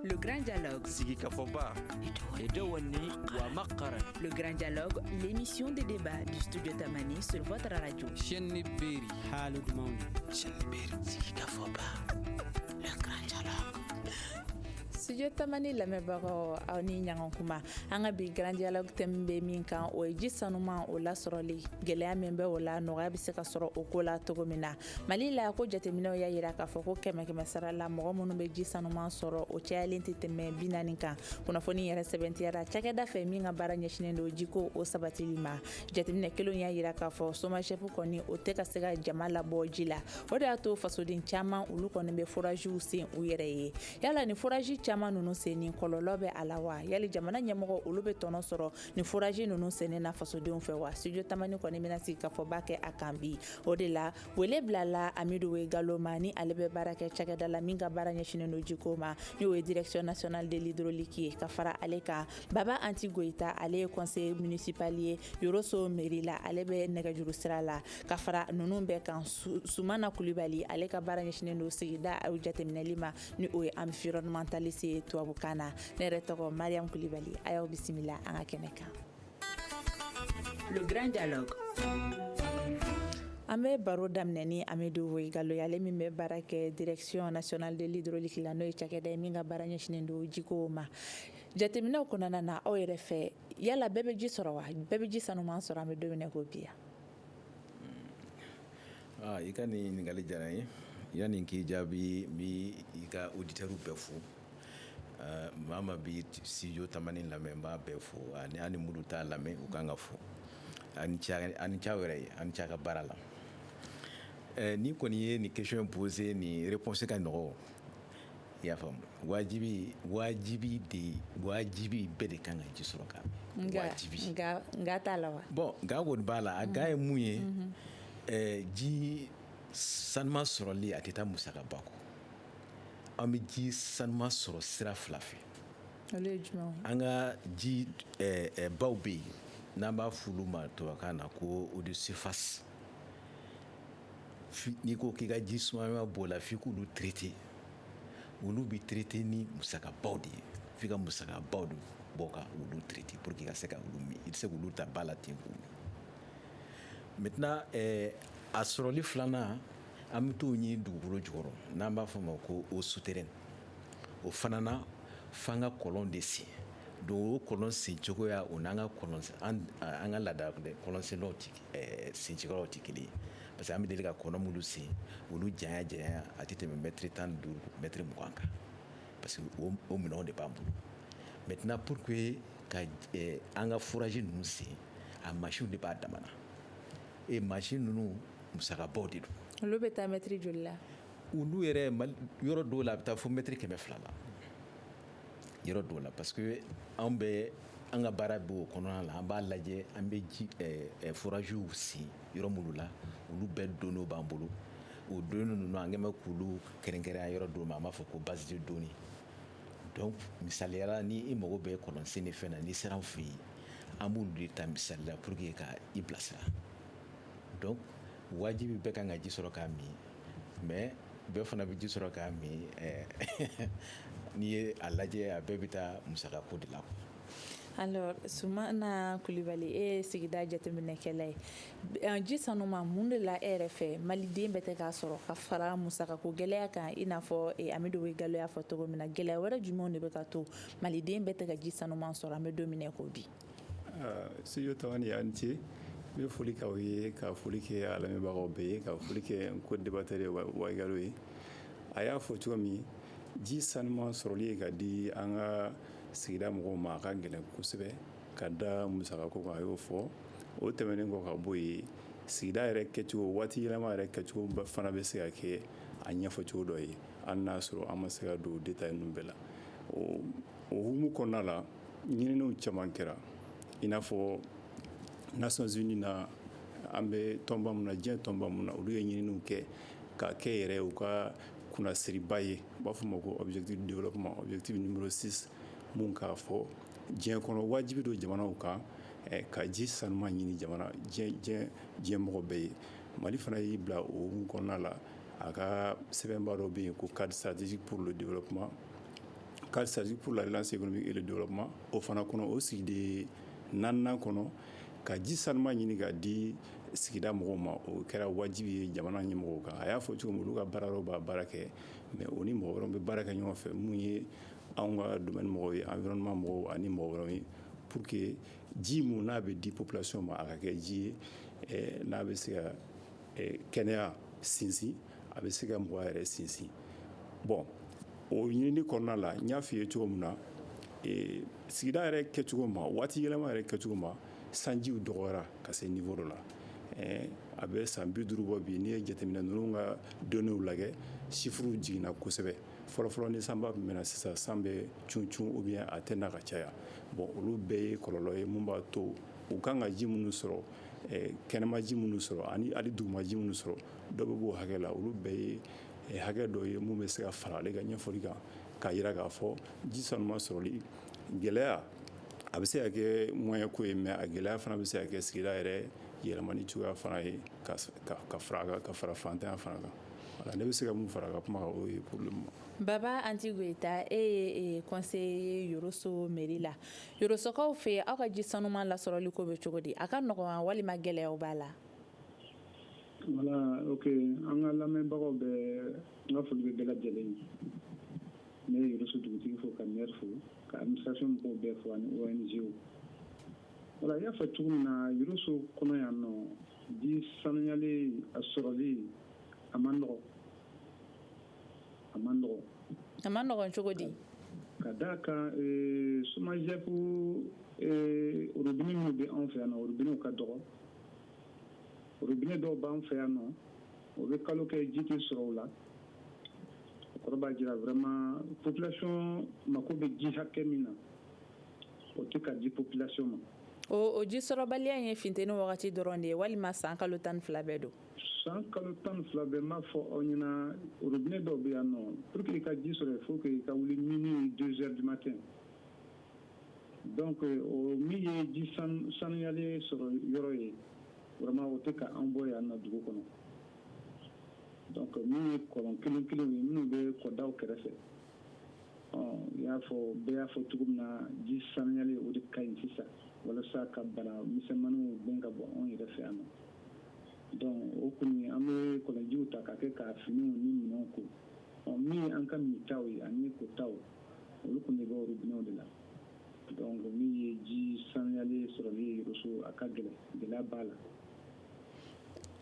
Le grand dialogue. Sigi ka fɔ ba. Edewa ni wa ma kara. Le grand dialogue, l'émission de débat du studio Tamani sur votre radio. Chaîne ni beri. Hali dumanw. Chaîne ni beri. Sigi ka fɔ ba. Le grand dialogue. studio tamani lamɛnbagaw aw ni ɲɔgɔn kuma an ka bi grand dialogue thème bɛ min kan o ye ji sanuman o lasɔrɔli gɛlɛya min bɛ o la nɔgɔya bɛ se ka sɔrɔ o ko la cogo min na mali la ko jateminɛw y'a jira k'a fɔ ko kɛmɛ kɛmɛ sara la mɔgɔ minnu bɛ ji sanuman sɔrɔ o cayalen tɛ tɛmɛ bi naani kan kunnafoni yɛrɛ sɛbɛntiyara cakɛda fɛ min ka baara ɲɛsinnen don jiko o sabatili ma jateminɛ kelenw y'a jira k'a fɔ somagep kɔni o tɛ ka se ka jama labɔ ji la o de y'a to fasoden caman olu kɔni bɛ foraziw sen u yɛrɛ ye yala ni forazi caman ninnu senni kɔlɔlɔ bɛ a la wa yali jamana ɲɛmɔgɔ olu bɛ tɔnɔ sɔrɔ nin forazi ninnu senni na fasodenw fɛ wa studio tamani kɔni bɛna sigi ka fɔba kɛ a kan bi o de la wele bilala amidu waigalo ma ni ale bɛ baara kɛ cakɛda la min ka baara ɲɛsinnen don jiko ma n'o ye direction nationale de l'hydraulique ye ka fara ale kan baba anti goyita ale ye conseiller municipal ye yoroso mairie la ale bɛ nɛgɛjuru sira la ka fara ninnu bɛɛ kan sumana kulibali ale ka baara ɲɛsinnen don sigida jateminɛli ma ni o ye environnementaliste ye tubabukan na ne yɛrɛ tɔgɔ mariam kulubali a y'aw bisimila an ka kɛnɛ kan le grand dialogue an bɛ baro daminɛ ni amidu waigalo ale min bɛ baara kɛ direction nationale de l'hydraulique la n'o ye cakɛda ye min ka baara ɲɛsinnen don jiko ma jateminɛw kɔnɔna na aw yɛrɛ fɛ yala bɛɛ bɛ ji sɔrɔ wa bɛɛ bɛ ji sanuman sɔrɔ an bɛ don min na ko bi yan Aa i ka nin ɲininkali diyara n ye yanni n k'i jaabi n bɛ i ka auditeurs bɛɛ fo maa min bɛ studio tamani lamɛn n b'a bɛɛ fo ani ni minnu t'a lamɛn u ka kan ka fo a ni ce aw yɛrɛ ye a ni ce a ka baara la ni kɔni ye nin question posé nin réponse ka nɔgɔ i y'a faamu wajibi wajibi de ye wajibi bɛɛ de kan ka ji sɔrɔ ka min nka wajibi nka nka t'a la wa bon nka kɔni b'a la a nka ye mun ye ɛɛ, ji sanuman sɔrɔli a tɛ taa musakaba kɔ an bɛ ji sanuman sɔrɔ sira fila fɛ olu ye jumɛnw ye an ka ji ɛɛ, ɛɛ, baw bɛ yen n'an b'a f'olu ma tubabukan na ko eau de surface n'i ko k'i ka ji suma b'o la f'i k'olu traité olu bɛ traité ni musakabaw de ye f'i ka musakabaw de bɔ ka olu traité pour que i ka se ka olu min i tɛ se k'olu ta ba la ten k'u min maintenant eh, a sɔrɔli filanan an bɛ t'o ɲini dugukolo jukɔrɔ n'an b'a fɔ o ma ko eau souterraine o fana na f'an ka kɔlɔn de sen donc o kɔlɔn sen cogoya o n'an ka kɔlɔn an ka laada kɔlɔn sentaw tɛ kelen sen cogoyaw tɛ kelen ye parce que an bɛ deli ka kɔlɔn minnu sen olu janya janya a tɛ tɛmɛ mɛtiri tan ni duuru mɛtiri mugan kan parce que o minɛnw de b'an bolo maintenant pour que ka an ka forage ninnu sen a machine de b'a dama na eh machine ninnu musakabaw de don olu bɛ taa mɛtiri joli la olu yɛrɛ yɔrɔ dɔw la a bɛ taa fo mɛtiri kɛmɛ fila la yɔrɔ dɔw la parce que an bɛ an ka baara bɛ o kɔnɔna la an b'a lajɛ an bɛ ji eh, eh, foragew sen yɔrɔ minnu la olu bɛɛ données b'an bolo o données ninnu an kɛlen bɛ k'olu kɛrɛnkɛrɛnya yɔrɔ dɔw ma an b'a fɔ ko base de données donc misaliyala ni i mago bɛ kɔlɔnsenni fɛn na n'i sera an fɛ yen an b'olu de ta misali la pour que ka i bilasira donc wajibi bɛɛ kan ka ji sɔrɔ k'a min mais bɛɛ fana bɛ ji sɔrɔ k'a min eh, n'i ye a lajɛ a bɛɛ bɛ taa musakako de la alors sumana kulibali e ye sigida jateminɛkɛla ye eh, ji sanuma mun de la e yɛrɛ fɛ maliden bɛɛ tɛ k'a sɔrɔ ka fara musakako gɛlɛya kan i n'a fɔ eh, amidu waigalo y'a fɔ cogo min na gɛlɛya wɛrɛ jumɛnw de bɛ ka to maliden bɛɛ tɛ ka ji sanuma sɔrɔ an bɛ don min na ko bi Studio tamani a ni ce n bɛ foli kɛ aw ye ka foli kɛ a lamɛnbagaw bɛɛ ye ka foli kɛ n co-débatteur waigalo ye a y'a fɔ cogo min ji sanuma sɔrɔli ye ka di an ka sigida mɔgɔw ma a ka gɛlɛn kosɛbɛ ka da musakako kan a y'o fɔ o tɛmɛnen kɔ ka bɔ yen sigida yɛrɛ kɛcogo waati yɛlɛma yɛrɛ kɛcogo fana bɛ se ka kɛ a ɲɛfɔcogo dɔ ye hali n'a sɔrɔ an ma se ka don détail ninnu bɛɛ la o hukumu kɔnɔna la ɲininiw caman kɛra i n'a fɔ nations unies na an bɛ tɔnba min na diɲɛ tɔnba min na olu ye ɲininiw kɛ ka kɛ yɛrɛ u ka kunnasiriba ye u b'a fɔ o ma ko objectif de développement objectif numéro 6 min k'a fɔ diɲɛ kɔnɔ wajibi don jamanaw kan eh, ka ji sanuma ɲini jamana diɲɛ mɔgɔ bɛɛ ye mali fana y'i bila o hukumu kɔnɔna la a ka sɛbɛnba dɔ bɛ yen ko cadre stratégique pour le développement cadre stratégique pour la relance économique et le développement o fana kɔnɔ o sigida naaninan kɔnɔ ka ji sanuma ɲini ka di sigida mɔgɔw ma o kɛra wajibi ye jamana ɲɛmɔgɔw kan a y'a fɔ cogo min olu ka baaraw b'a baara kɛ mais o ni mɔgɔ wɛrɛw bɛ baara kɛ ɲɔgɔn fɛ minnu ye anw ka domaine mɔgɔw ye environnement mɔgɔw ani mɔgɔ wɛrɛ ye pour que ji min n'a bɛ di population ma a ka kɛ ji ye n'a bɛ se ka kɛnɛya sinsin a bɛ se ka mɔgɔ yɛrɛ sinsin bon o ɲinini kɔnɔna la n y'a f'i ye cogo min na e, sigida yɛrɛ kɛcogo ma waati yɛlɛma yɛrɛ kɛcogo ma sanjiw dɔgɔyara ka se niveau dɔ la a bɛ san bi duuru bɔ bi n'i ye jateminɛ ninnu ka donnéew lajɛ chiffrew jiginna kosɛbɛ fɔlɔfɔlɔ ni sanba tun bɛ na sisan san bɛ cun ou bien a tɛ na ka caya bon olu bɛɛ ye kɔlɔlɔ ye mun b'a to u kan ka ji minnu sɔrɔ kɛnɛmaji minnu sɔrɔ ani hali dugumaji minnu sɔrɔ dɔ bɛ b'o hakɛ la olu bɛɛ ye eh, hakɛ dɔ ye mun bɛ se ka fara ale ka ɲɛfɔli kan k'a jira k'a fɔ ji sanuma sɔrɔli gɛlɛya a bɛ se ka kɛ moyen ko ye mais a gɛlɛya fana bɛ se ka kɛ sigida yɛrɛ yɛlɛmani cogoya fana ye ka fara kan ka fara fantanya fana kan voilà ne bɛ se ka mun fara ka kuma kan o ye pour le moment Baba Anti Goyita e ye e, conseiller ye Yoroso mairie la Yorosokaw fɛ aw ka ji sanuma lasɔrɔli ko bɛ cogo di a ka nɔgɔn walima gɛlɛyaw b'a la Wala o an ka lamɛnbagaw bɛ n ka foli bɛ bɛɛ lajɛlen ye ne yɛrɛsu dugutigi fo ka ne fo ka musafɛn mɔgɔw bɛɛ fɔ ani walilanzyewu wala y'a fɔ cogo min na yɛrɛso kɔnɔ yan nɔ bi sanuyalen a sɔrɔlen a ma n dɔgɔ a ma n dɔgɔ a ma nɔgɔ cogo di ka da kan somajɛku olu dumuni bɛ anw fɛ yan na olu dumuniw ka dɔgɔ robinet dɔw b'an fɛ yan nɔ o bɛ kalo kɛ ji tɛ sɔrɔ o la o kɔrɔ b'a jira vraiment population mako bɛ ji hakɛ min na o tɛ ka di population ma o o ji sɔrɔbaliya in ye funteni wagati dɔrɔn de ye walima san kalo tan ni fila bɛɛ don san kalo tan ni fila bɛɛ n b'a fɔ aw ɲɛna robinet dɔw bɛ yan nɔ pour que i ka ji sɔrɔ il faut que i ka wuli minuit deux heures du matin Donc o min ye ji sanuyalen sɔrɔ yɔrɔ ye vraiment o tɛ ka an bɔ yan na dugu kɔnɔ donc min ye kɔlɔn kelen kelen ye minnu bɛ kɔdaw kɛrɛfɛ ɔ i y'a fɔ bɛɛ y'a fɔ cogo min na ji sanuyalen o de ka ɲi sisan walasa ka bana misɛnmanninw gɛn ka bɔ anw yɛrɛ fɛ yan na donc o kɔni an bɛ kɔlɔnjiw ta ka kɛ ka finiw ni minɛnw ko ɔ min ye an ka mintaw ye ani kotaw olu kɔni bɛ bɔ robinetw de la donc min ye ji sanuyalen sɔrɔli ye Yoroso a ka gɛlɛn gɛlɛya b'a la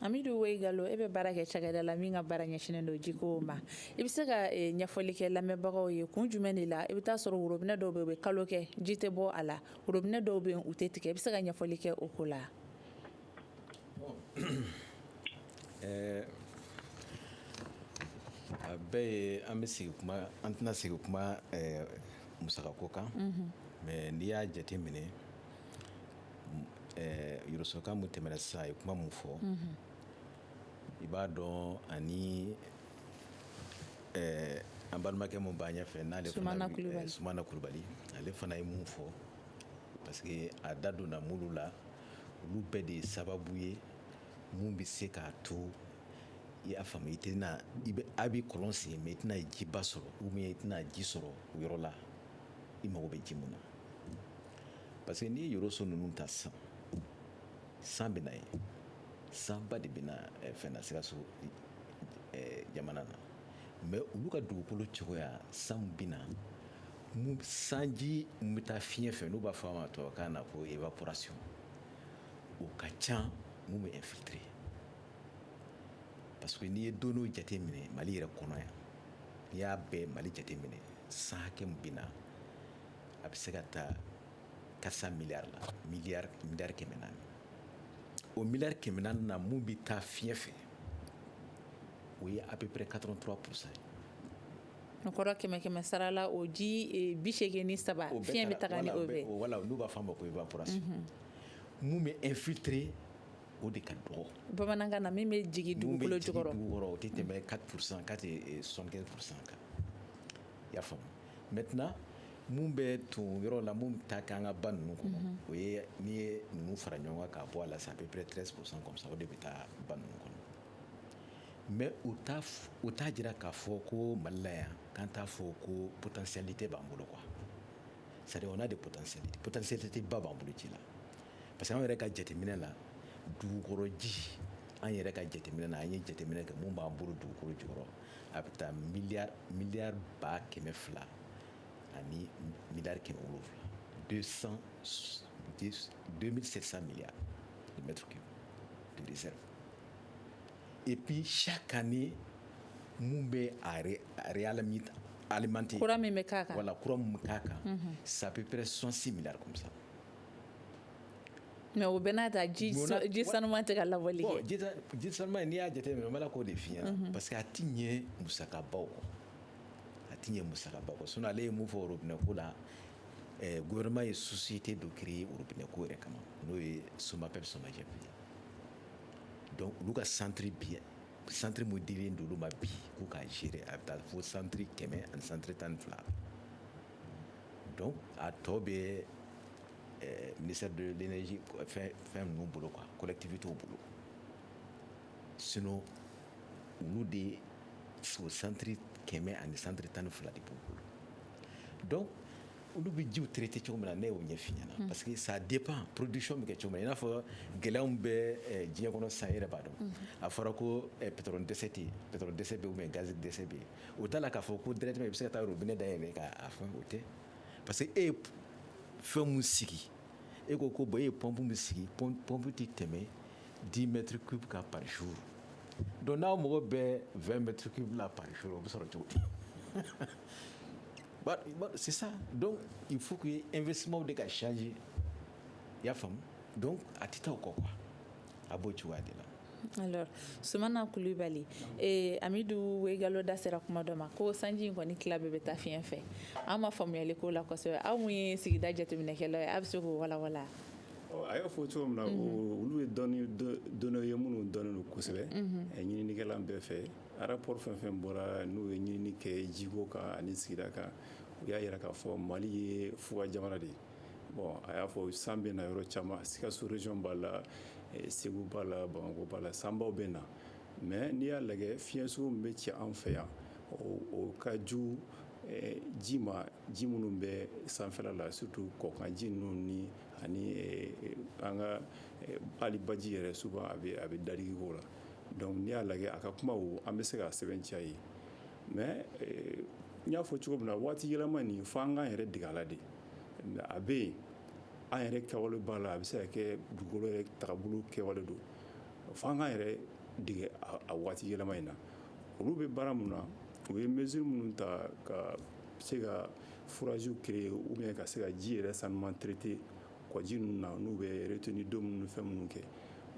Amidu Wayigalo e bɛ baara kɛ cakɛda la min ka baara ɲɛsinnen don jiko ma i bɛ se ka eh, ɲɛfɔli kɛ lamɛnbagaw ye kun jumɛn de la i bɛ taa sɔrɔ robinet dɔw bɛ u bɛ kalo kɛ ji tɛ bɔ a la robinet dɔw bɛ u tɛ tigɛ i bɛ se ka ɲɛfɔli kɛ o ko la A bɛɛ ye an bɛ sigi an tɛna sigi kuma musaka ko kan mais n'i y'a jate minɛ Yorosoka min tɛmɛna sisan a ye kuma min fɔ i b'a dɔn ani an balimakɛ min b'a ɲɛfɛ n'ale Sumana Kulubali ale fana ye mun fɔ parce que a da donna minnu la olu bɛɛ de ye sababu ye min bɛ se k'a to i y'a faamu i tɛna i bɛ a bɛ kɔlɔn sen mais i tɛna jiba sɔrɔ ou bien i tɛna ji sɔrɔ o yɔrɔ la i mago bɛ ji mun na parce que n'i ye Yoroso ninnu ta san san bɛ na yen sanba de bɛ na eh, fɛn na Sikaso eh, jamana na mais olu ka dugukolo cogoya san bɛ na sanji min bɛ taa fiɲɛ fɛ n'u b'a fɔ a ma tubabukan na ko évaporation o ka ca ni min bɛ infiltrer parce que n'i ye données jate minɛ Mali yɛrɛ kɔnɔ yan n'i y'a bɛɛ Mali jate minɛ san hakɛ min bɛ na a bɛ se ka taa quatre cents milliards la miliyari kɛmɛ naani o miliyari kɛmɛ naani na min bɛ taa fiɲɛ fɛ o ye a bɛpere ka dɔrɔn tora kusa ye n kɔrɔ kɛmɛ kɛmɛ sarala o ji bi seegin ni saba o fi bɛ taa o bɛ wala olu b'a fɔ ma ko i b'ase minnu bɛ e fitirire o de ka dɔgɔ bamanankan na min bɛ jigin dugu bolo jɔyɔrɔ wɔɔrɔ o tɛ tɛmɛ ka kurusan ka son kurusan kan i y'a faamuya mɛ tɛna minnu bɛ ton yɔrɔ la minnu ta kɛ an ka ba ninnu kɔnɔ o ye n'i ye ninnu fara ɲɔgɔn kan k'a bɔ a la sa a bɛ pere terikɛre kurusan kɔsa o de bɛ taa ba ninnu kɔnɔ Mais o t'a jira k'a fɔ ko Mali la yan k'an t'a fɔ ko potentialité b'an bolo quoi c'est-à-dire on a des p potentialités ba b'an bolo ji la parce que an yɛrɛ ka jateminɛ la dugukɔrɔji an yɛrɛ ka jateminɛ na an ye jateminɛ kɛ min b'an bolo dugukolo jukɔrɔ a bɛ taa miliyari ba kɛmɛ fila ani miliyari kɛmɛ wolo wolonwula deux mille sept cents milliards de mètres cubes epi sa ka ni minnu bɛ alimami kura min bɛ kan wala kura min bɛ kan kan sapre sɔsi minɛ sa mɛ o bɛ n'a ta ji ji sanu tɛ ka lawale jisaman n'i y'a jate minɛ bɛ k'o de fiɲɛya parce que a tɛ ɲɛ musakabaw a tɛ ɲɛ musaba sun ale ye mun fɔ o minɛ ko la gma ye susite don kiiri ye oinɛ ko yɛrɛ kama n'o ye somakɛ bɛ sɔnjɛ dɔnku olu ka santiri bi santiri mo di duuru ma bi ko k'a ziiri a bɛ taa fo santiri kɛmɛ ani santiri tan ni fila dɔn a tɔ bɛ misa donsi fɛn ninnu bolo kan kolɛtibi t'o bolo sin olu de ye so santiri kɛmɛ ani santiri tan ni fila de b'o bolo dɔn olu bɛ jiw traité cogo min na ne y'o ɲɛf'i ɲɛna mm. parce que ça dépend production bɛ kɛ cogo min na i n'a fɔ gɛlɛyaw bɛ eh, diɲɛ kɔnɔ sisan i yɛrɛ b'a dɔn mm. a fɔra ko eh, pétrole dɛsɛ tɛ yen pétrole dɛsɛ bɛ yen ou bien gaz dɛsɛ bɛ yen o t'a la k'a fɔ ko directement i bɛ se ka taa robinet dayɛlɛ k'a fɛn o tɛ parce que e ye fɛn mun sigi e ko ko bon e ye pompe min sigi pompe tɛ tɛmɛ 10 mètres cube kan par jour donc n'aw mago bɛ 20 mètres cube la par jour o bɛ sɔrɔ cogo di C'est ça donc il faut que investissementw de ka changer i y'a faamu donc a tɛ taa o kɔ quoi a b'o cogoya de la alors Sumana Kulubali Amidu Wayigalo da sera kuma dɔ ma ko sanji in kɔni tila bɛɛ bɛ taa fiɲɛ fɛ an ma faamuyali ko la kosɛbɛ aw mun ye sigida jateminɛkɛlaw ye a bɛ se k'o walanwalan a y'a fɔ cogo min na olu ye dɔnniw ye minnu dɔnnen don kosɛbɛ ɲininikɛla bɛɛ fɛ Rapport fɛn fɛn bɔra n'u ye ɲinini kɛ jiko kan ani sigida kan, u y'a yira k'a fɔ Mali ye fuga jamana de ye, bon a y'a fɔ san bɛ na yɔrɔ caman Sikaso région b'a la, Segu b'a la, Bamakɔ b'a la sanbaw bɛ na mais n'i y'a lajɛ fiɲɛ sugu min bɛ ci an fɛ yan o ka jugu ji ma ji minnu bɛ sanfɛla la surtout kɔkanji ninnu ni ani an ka hali baji yɛrɛ souvent a bɛ dadigi k'o la donc n'i y'a lajɛ a ka kuma an bɛ se k'a sɛbɛntiya ye mais n y'a fɔ cogo min na waati yɛlɛma nin fo an k'an yɛrɛ dege a la de a bɛ yen an yɛrɛ kɛwale b'a la a bɛ se ka kɛ dugukolo yɛrɛ tagabolo kɛwale don fo an k'an yɛrɛ dege a waati yɛlɛma in na olu bɛ baara mun na u ye mesure minnu ta ka se ka foragew créer ou bien ka se ka ji yɛrɛ sanuman traité kɔji ninnu na n'u bɛ retenue d'eau minnu fɛn minnu kɛ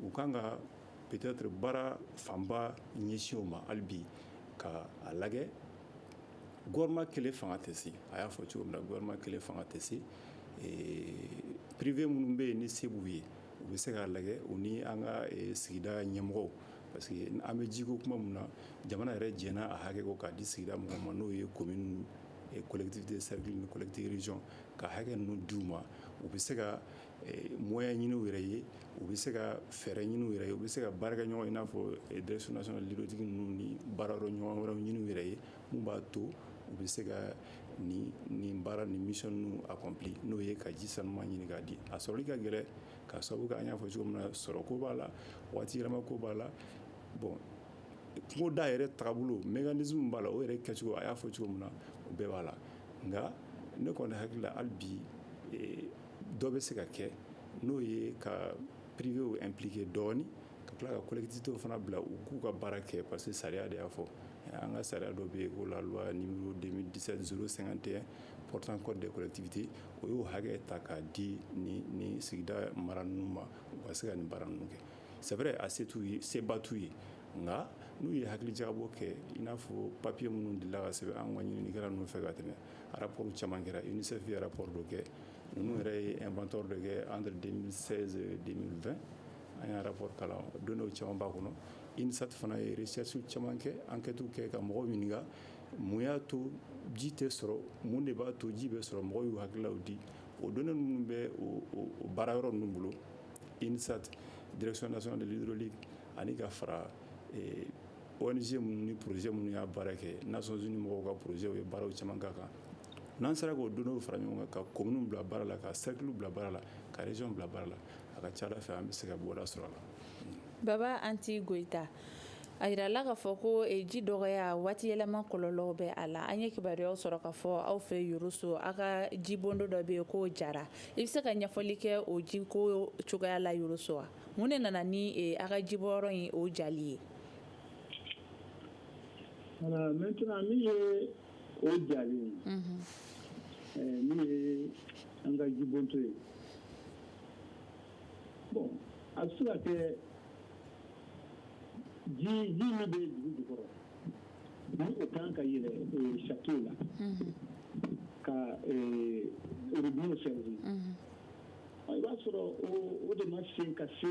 u kan ka Peut-être baara fanba ɲɛsin o ma hali bi ka a lajɛ gouvernement kelen fanga tɛ se a y'a fɔ cogo min na gouvernement kelen fanga tɛ se privé minnu bɛ yen ni se b'u ye u bɛ se k'a lajɛ u ni an ka sigida ɲɛmɔgɔw parce que an bɛ jiko kuma min na jamana yɛrɛ jɛnna a hakɛ ko k'a di sigida mɔgɔw ma n'o ye commune collectivité cercle ni collectivité région ka hakɛ ninnu d'u ma u bɛ se ka moyen ɲini u yɛrɛ ye u bɛ se ka fɛɛrɛ ɲini u yɛrɛ ye u bɛ se ka baarakɛɲɔgɔn i n'a fɔ direction nationale de l'hydraulique ninnu ni baara yɔrɔ ɲɔgɔn wɛrɛw ɲini u yɛrɛ ye min b'a to u bɛ se ka nin baara ni mission ninnu accomplir n'o ye ka ji sanuman ɲini k'a di a sɔrɔli ka gɛlɛn k'a sababu kɛ an y'a fɔ cogo min na sɔrɔ ko b'a la waati yɛlɛma ko b'a la bon kungo da yɛrɛ taabolo mécanisme b'a la o yɛrɛ kɛcogo a y'a fɔ cogo min na o bɛɛ b'a la nka ne kɔni hakili la hali bi dɔ bɛ se ka kɛ n'o ye ka privéw impliquer dɔɔni ka tila ka collectivité fana bila u k'u ka baara kɛ parce que sariya de y'a fɔ an ka sariya dɔ bɛ yen ko la loi numéro 2017-051 portant code des collectivités o y'o hakɛ ta k'a di nin sigida mara ninnu ma u ka se ka nin baara ninnu kɛ c'est vrai a seba t'u ye nka n'u ye hakilijakabɔ kɛ i n'a fɔ papiye minnu dilanna ka sɛbɛn an ka ɲininikɛla ninnu fɛ ka tɛmɛ arapo caman kɛra i nifiya arapo dɔ kɛ n yɛrɛ ye bantɔ dɔ kɛ an den2 an ye arapo kalan don dɔw caman b'a kɔnɔ isati fana ye sɛsiw caman kɛ an kɛti kɛ ka mɔgɔw ɲini mun y'a to ji tɛ sɔrɔ minnu de b'a to ji bɛ sɔrɔ mɔgɔw y'u hakililaw di o don minnu bɛ baara yɔrɔ ninnu bolo isati dresina sɔn deli ani ka fara ONG minnu ni projet minnu y'a baara kɛ Nations Unies mɔgɔw ka projet ye baaraw caman k'a kan n'an sera k'o données fara ɲɔgɔn kan ka communes bila baara la ka cercle bila baara la ka région bila baara la a ka ca Ala fɛ an bɛ se ka bɔda sɔrɔ a la Baba Anti Goita a yirala k'a fɔ ko ji dɔgɔya waati yɛlɛma kɔlɔlɔw bɛ a la an ye kibaruya sɔrɔ k'a fɔ aw fɛ Yoroso aw ka jibondo dɔ bɛ yen k'o jara i bɛ se ka ɲɛfɔli kɛ o jiko cogoya la Yoroso wa mun de nana ni aw ka jibɔyɔrɔ in o jali ye Maintenant min ye o jali ye min ye an ka jibonto ye bon a bɛ se ka kɛ ji ji min bɛ dugu jukɔrɔ o kan ka yɛlɛ château la ka robinet servir i b'a sɔrɔ o de ma se ka se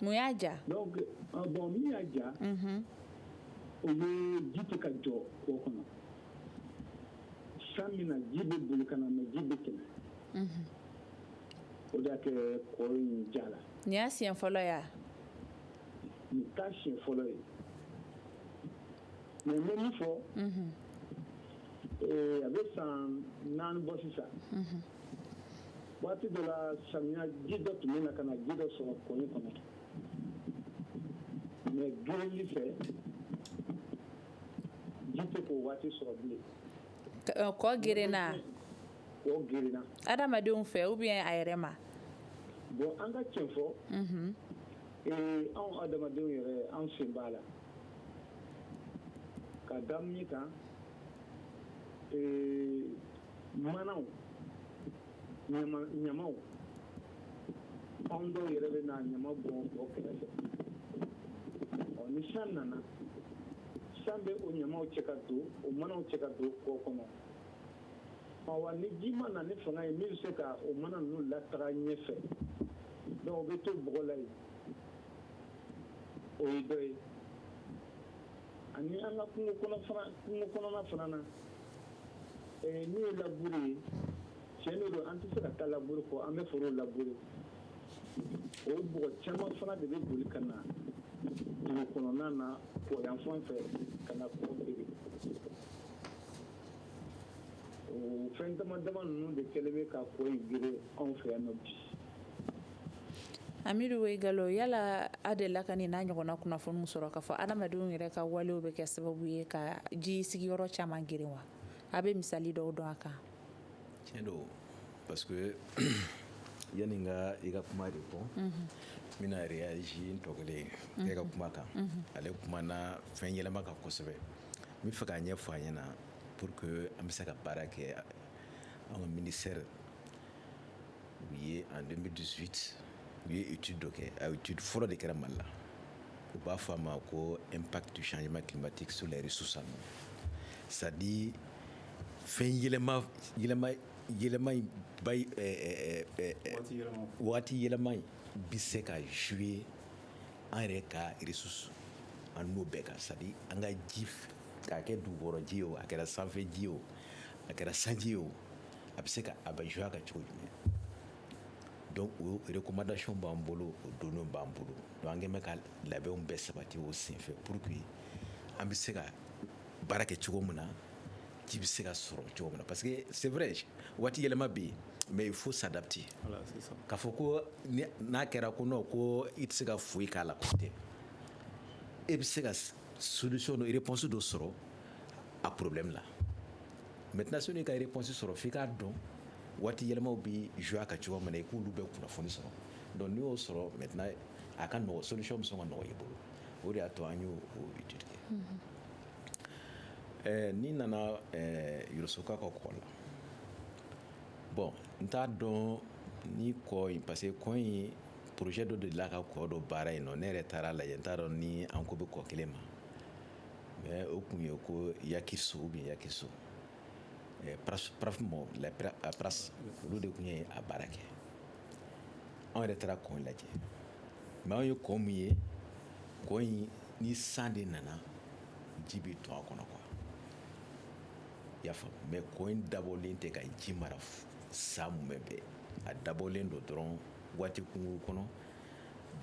mun y'a ja donc bon min y'a ja o ye ji tɛ ka jɔ kɔ kɔnɔ san min na ji bɛ boli ka na mais ji bɛ tɛmɛ o de y'a kɛ kɔ in jala nin y'a siɲɛ fɔlɔ ya nin t'a siɲɛ fɔlɔ ye mais n bɛ min fɔ a bɛ san naani bɔ sisan waati dɔ la samiya ji dɔ tun bɛ na ka na ji dɔ sɔrɔ kɔ in kɔnɔ mais gereli fɛ ji tɛ k'o waati sɔrɔ bilen kɔ gerenna kɔ gerenna adamadenw fɛ ou bien a yɛrɛ ma bon an ka cɛn fɔ mhm. eh, anw adamadenw yɛrɛ an sen b'a la ka da min kan eh, manaw ɲamaw anw dɔw yɛrɛ bɛ na ɲama bɔn kɔ kɛrɛfɛ ɔ ni san nana san bɛ o ɲamaw cɛ ka don o manaw cɛ ka don kɔ kɔnɔ ɔ wa ni ji ma na ni fanga ye min bɛ se ka o mana ninnu lataga ɲɛfɛ donc o bɛ to bɔgɔ la yen o ye dɔ ye ani an ka kungo kɔnɔ fana kungo kɔnɔna fana na N'o ye laburu ye cɛn de don an tɛ se ka taa laburu kɔ an bɛ foro laburu o bɔgɔ caman fana de bɛ boli ka na dugu kɔnɔna na kɔ yan fan fɛ ka na kɔ geren o fɛn dama dama ninnu de kɛlen bɛ ka kɔ in geren anw fɛ yan bi Amidu Wayigalo yala a delila ka nin n'a ɲɔgɔnna kunnafoniw sɔrɔ ka fɔ adamadenw yɛrɛ ka walew bɛ kɛ sababu ye ka ji sigiyɔrɔ caman geren wa a bɛ misali dɔw dɔn a kan tiɲɛ don parce que yanni n ka i ka kuma répondre n bɛna réagir n tɔ kelen in ka kuma kan ale kumana fɛn yɛlɛma kan kosɛbɛ n bɛ fɛ k'a ɲɛfɔ a ɲɛna pour que an bɛ se ka baara kɛ an ka ministère u ye en 2018 u ye étude dɔ kɛ a étude fɔlɔ de kɛra Mali la u b'a fɔ a ma ko impact du changement climatique sur les ressources en eau c'est à dire fɛn yɛlɛma yɛlɛma yɛlɛma in ba eh, eh, eh, waati yɛlɛma in bɛ se ka jouer an yɛrɛ ka ressources en eau bɛɛ kan c'est à dire an ka ji k'a kɛ dugukɔrɔ ji ye o a kɛra sanfɛ ji ye o a kɛra sanji ye o a bɛ se ka a bɛ jouer a kan cogo jumɛn donc o recommandation b'an bolo o données b'an bolo donc an kɛlen bɛ ka labɛnw bɛɛ sabati o senfɛ pour que an bɛ se ka baara kɛ cogo min na ji bɛ se ka sɔrɔ cogo min na parce que c'est vrai waati yɛlɛma bɛ yen mais il faut s'adapter k'a fɔ ko n'a kɛra ko non ko i tɛ se ka foyi k'a la tɛ e bɛ se ka solution dɔ réponse dɔ sɔrɔ a problème la maintenant sani ka réponse sɔrɔ f'i k'a dɔn waati yɛlɛmaw bɛ jouer a kan cogo min na i k'olu bɛɛ kunnafoni sɔrɔ donc n'i y'o sɔrɔ maintenant a ka nɔgɔ solution bɛ sɔn ka nɔgɔya i bolo o de y'a to an y'o étude kɛ n'i nana Yorosoka ka kɔ la bon n t'a dɔn ni kɔ in parce que kɔ in projet dɔ de la ka kɔ dɔ baara yen nɔ ne yɛrɛ taara lajɛ n t'a dɔn ni an ko bɛ kɔ kelen ma Mais o tun ye ko Yakiso ou bien Yakiso PRAPS olu de tun ye a baara kɛ anw yɛrɛ taara kɔ in lajɛ mais anw ye kɔ min ye kɔ in ni san de nana ji bɛ to a kɔnɔ quoi i y'a faamu mais kɔ in dabɔlen tɛ ka ji mara san mumɛ bɛɛ a dabɔlen don dɔrɔn waati kunkurun kɔnɔ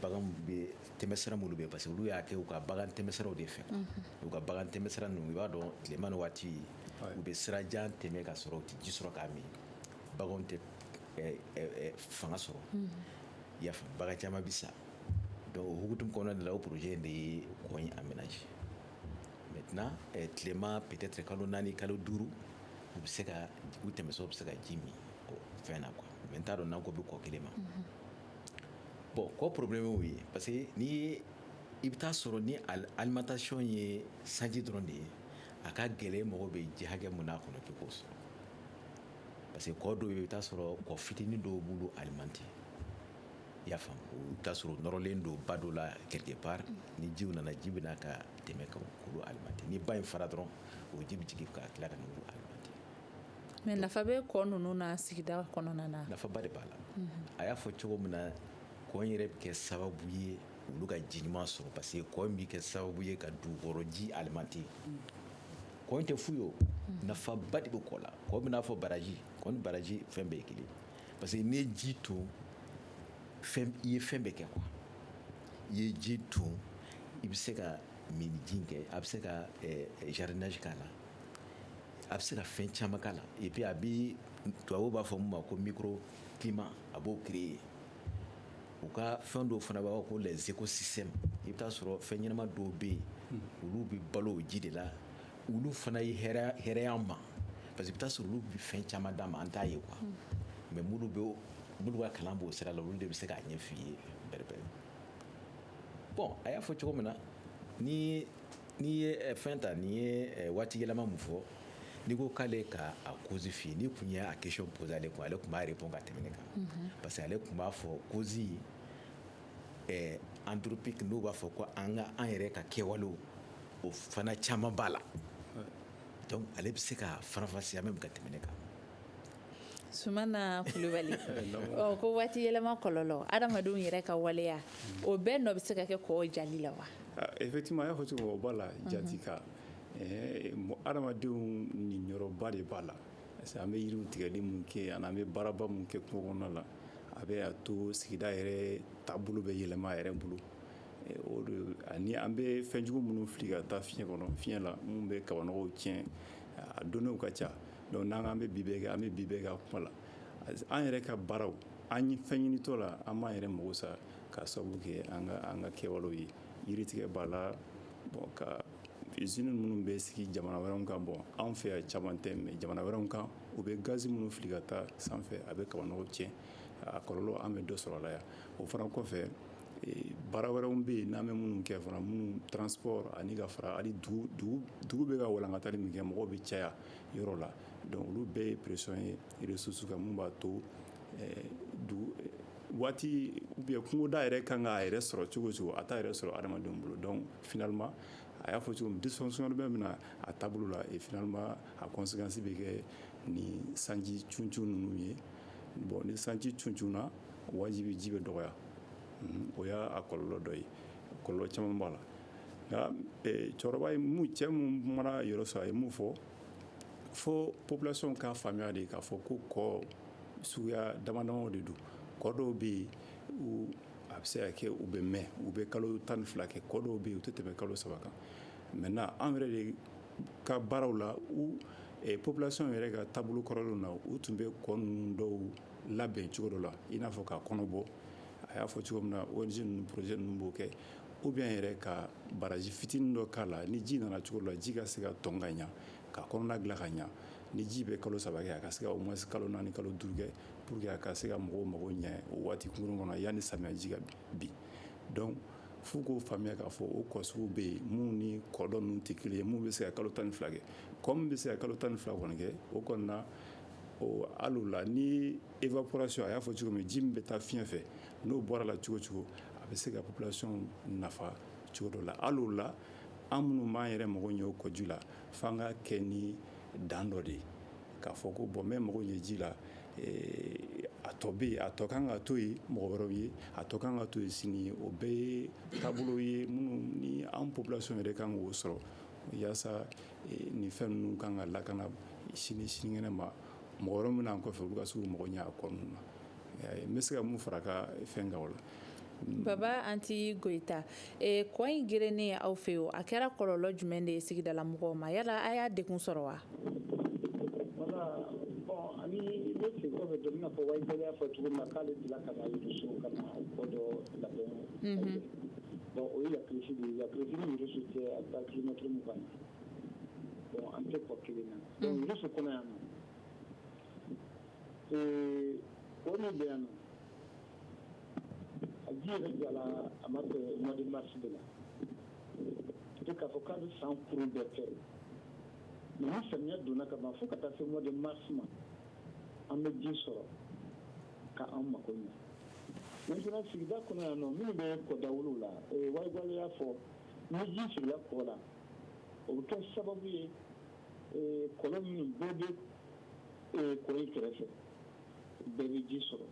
bagan bɛ tɛmɛ sira minnu fɛ parce que olu y'a kɛ u ka bagan tɛmɛsiraw de fɛ u ka bagan tɛmɛsira ninnu i b'a dɔn tilema ni waati u bɛ sirajan tɛmɛ ka sɔrɔ u tɛ ji sɔrɔ k'a min baganw tɛ fanga sɔrɔ i y'a faamu bagan caman bɛ sa donc o hukumu kɔnɔna de la o projet in de ye kɔ in aménager maintenant tilema peut-être kalo naani kalo duuru u bɛ se ka u tɛmɛsiraw bɛ se ka ji min fɛn na quoi mais n t'a dɔn n'an ko bɛ kɔ kelen ma bon kɔ problème y'o ye parce que ni i bɛ taa sɔrɔ ni alimentation ye sanji dɔrɔn de ye a ka gɛlɛn mɔgɔ bɛ ji hakɛ mun n'a kɔnɔ k'i k'o sɔrɔ parce que kɔ dɔw i bɛ taa sɔrɔ kɔ fitinin dɔw b'olu alimenter i y'a faamu i bɛ taa sɔrɔ nɔrɔlen don ba dɔ la quelque part ni ji nana ji bɛ na ka tɛmɛ ka olu alimenter ni ba in fara dɔrɔn o ji bɛ jigin ka tila ka n'olu alimenter Mais nafa bɛ kɔ ninnu na sigida kɔnɔna na. Nafaba de b'a la. A y'a fɔ cogo min na, kɔ in yɛrɛ bɛ kɛ sababu ye olu ka ji ɲuman sɔrɔ parce que kɔ in bɛ kɛ sababu ye ka dugukɔrɔji alimenter . Kɔ in tɛ fu ye o. Nafaba de bɛ kɔ la. Kɔ bɛ n'a fɔ baraji. Kɔ ni baraji fɛn bɛɛ ye kelen ye parce que n'i ye ji ton, fɛn i ye fɛn bɛɛ kɛ quoi . I ye ji ton, i bɛ se ka minni ji in kɛ, a bɛ se ka ɛ jardinage k'a la. a bɛ se ka fɛn caman k'a la et puis a bɛ tubabuw b'a fɔ min ma ko microclimat a b'o créer u ka fɛn dɔw fana b'a fɔ ko les écosystèmes i bɛ taa sɔrɔ fɛn ɲɛnama dɔw bɛ yen olu bɛ balo o ji de la olu fana ye hɛrɛ y'an ma parce que i bɛ taa sɔrɔ olu bɛ fɛn caman d'an ma an t'a ye quoi mais minnu bɛ minnu ka kalan b'o sira la olu de bɛ se k'a ɲɛf'i ye bɛrɛbɛrɛ bon a y'a fɔ cogo min na ni n'i ye eh, fɛn ta n'i ye eh, waati yɛlɛma mun fɔ n'i ko k'ale ka a cause f'i n'i kun y'a question posé ale kun ale kun b'a répond ka tɛmɛ ne kan mhm. parce que ale kun b'a fɔ cause eh, anthropique n'u b'a fɔ ko an ka an yɛrɛ ka kɛwalew o fana caman b'a la donc ale bɛ se k'a faranfasiya même ka tɛmɛ ne kan Sumana Kulubali ko waati yɛlɛma kɔlɔlɔ adamadenw yɛrɛ ka waleya o bɛɛ nɔ bɛ se ka kɛ kɔ jali la wa effectivement a y'a fɔ cogo o b'a la jati ka adamadenw niyɔrɔba de b'a la parce que an bɛ yiri tigɛli min kɛ ani an bɛ baaraba min kɛ kungo kɔnɔna la a b'a to sigida yɛrɛ taabolo bɛ yɛlɛma a yɛrɛ bolo ani an bɛ fɛnjugu minnu fili ka taa fiɲɛ kɔnɔ fi fiɲɛ la minnu bɛ kabanɔgɔw tiɲɛ a donw ka ca donc n'an an bɛ bi bɛɛ kɛ an bɛ bi bɛɛ k'a kuma la an yɛrɛ ka baaraw an ye fɛn ɲinitɔ la an b'an yɛrɛ mago sa k'a sababu kɛ an ka kɛwalew ye yiritigɛ b'a la ka usine minnu bɛ sigi jamana wɛrɛw kan bon anw fɛ yan caman tɛ mais jamana wɛrɛw kan u bɛ gazi minnu fili ka taa sanfɛ a bɛ kabanɔgɔw tiɲɛ a kɔlɔlɔ an bɛ dɔ sɔrɔ a la yan o fana kɔfɛ baara wɛrɛw bɛ yen n'an bɛ minnu kɛ fana minnu transport ani ka fara dugu bɛ ka walankatali min kɛ mɔgɔw bɛ caya yɔrɔ la donc olu bɛɛ ye pression ye ressources kan min b'a to waati ou bien kungoda yɛrɛ kan k'a yɛrɛ sɔrɔ cogo o cogo a t'a yɛrɛ sɔrɔ adamadenw bolo donc finalement a y'a fɔ cogo min dysfonction bɛ min na a taabolo la et finalement a conséquence bɛ kɛ ni sanji cuncun ninnu ye bon ni sanji cuncunna na wajibi ji bɛ dɔgɔya o y'a kɔlɔlɔ dɔ ye kɔlɔlɔ caman b'a la nka cɛkɔrɔba cɛ minnu mana yɔrɔ sɔrɔ a ye mun fɔ fo population k'a faamuya de k'a fɔ ko kɔ suguya damadama de don kɔ dɔw bɛ yen a bɛ se ka kɛ u bɛ mɛn u bɛ kalo tan ni fila kɛ kɔ dɔw bɛ yen u tɛ tɛmɛ kalo saba kan maintenant an yɛrɛ de ka baaraw la population yɛrɛ ka taabolo kɔrɔlen na u tun bɛ kɔ ninnu dɔw labɛn cogo dɔ la i n'a fɔ k'a kɔnɔ bɔ a y'a fɔ cogo min na ONG projet ninnu b'o kɛ ou bien yɛrɛ ka baraji fitinin dɔ k'a la ni ji nana cogo la ji ka se ka tɔn ka ɲa ka kɔnɔna dilan ka ɲa ni ji bɛ kalo saba kɛ a ka se ka au moins kalo naani kalo duuru kɛ pour que a ka se ka mɔgɔw mago ɲɛ o waati kunkurun kɔnɔ yanni samiyaji ka bin donc f'u k'o faamuya k'a fɔ o kɔ sugu bɛ yen minnu ni kɔ dɔ ninnu tɛ kelen ye minnu bɛ se ka kalo tan ni fila kɛ kɔ min bɛ se ka kalo tan ni fila kɔni kɛ o kɔnɔna hali o la ni évaporation a y'a fɔ cogo min ji min bɛ taa fiɲɛ fɛ n'o bɔra la cogo o cogo a bɛ se ka population nafa cogo dɔ la hali o la an minnu b'an yɛrɛ mago ɲɛ o kɔ ji la fo an ka kɛ ni dan dɔ de ye k'a fɔ ko bon n bɛ mago ɲɛ ji la a tɔ bɛ yen a tɔ ka kan ka to yen mɔgɔ wɛrɛw ye a tɔ ka kan ka to yen sini o bɛɛ ye taabolo ye minnu ni an population yɛrɛ kan k'o sɔrɔ walasa nin fɛn ninnu ka kan ka lakana sini sinikɛnɛ ma mɔgɔ wɛrɛ min na an kɔfɛ olu ka se k'u mago ɲɛ a kɔ ninnu na n bɛ se ka mun fara ka fɛn kan o la baba anti goyita kɔ in gerenni aw fɛ yen a kɛra kɔlɔlɔ jumɛn de ye sigidala mɔgɔw ma yala a y'a degun sɔrɔ wa Ee kɔ min bɛ yan a ji yɛrɛ jala a ma mɛɛn mois de mars de la e k'a fɔ k'a bɛ san kuru bɛɛ kɛ mais ni samiya donna ka ban fo ka taa se mois de mars ma an bɛ ji sɔrɔ ka an mako ɲɛ maintenant sigida kɔnɔ yan nɔ minnu bɛ kɔ dawolo la wayigalo y'a fɔ ni ji sigila kɔ la o bɛ kɛ sababu ye kɔlɔn minnu bɛɛ bɛ kɔ in kɛrɛfɛ bɛɛ bɛ ji sɔrɔ